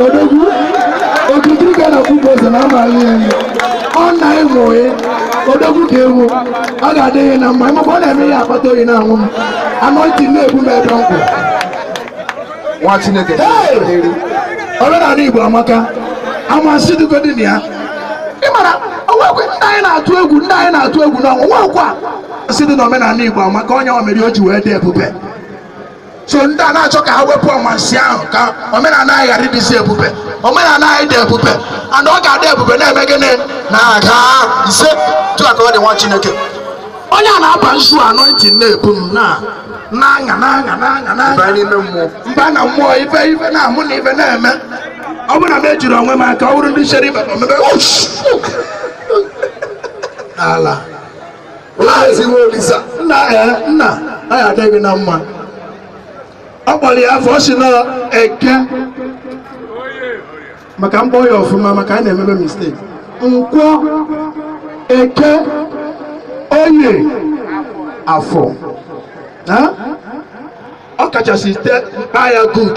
odogwu okirikiri ka a na-agba ukwu ose na amaghị ya ihe ọ na ịmụ oyi odogwu ka ewu ọ ga-adịrị gị na mma ịmụkwa ọ na-eme ya akpata oyi na-awụ m anointing na-ebu m ebe m kwụ nwa chineke omenala igbo amaka amansi dịgodị na ya ị mara o nwekwa ndị anyị na-atụ egwu ndị anyị na-atụ egwu mmọnwụ nwekwa amansi dị na omenala igbo maka ọ ya mere o ji wee dị ebube so ndị a na-achọ ka ha wepụ amansi ahụ ka omenala anyị ghara ịdịzi ebube omenala anyị dị ebube and ọ ga-adị ebube na-eme gịnị na-aga ise otu a ka ọ dị nwa chineke onye a na-aba nzu anointing na-ebu m na na-aṅa na-aṅa na-aṅa na-aṅa baa n'ime mmụọ m baa na mmụọ ife ife na-amụ na ife na-eme ọ bụrụ na m ejiri onwe m aka ọ bụrụ ndị chere ibe omebe ush! n'ala Maazị Nwaolisa nna ya nna anyị ọ ga-adịrị gị na mma ọ kpọrọ ya afọ ọ sị na eke maka m kpọọ ya ọfụma maka anyị na-emebe mistake nkwọ eke oye afọ ọ kachasị te kpọọ ya good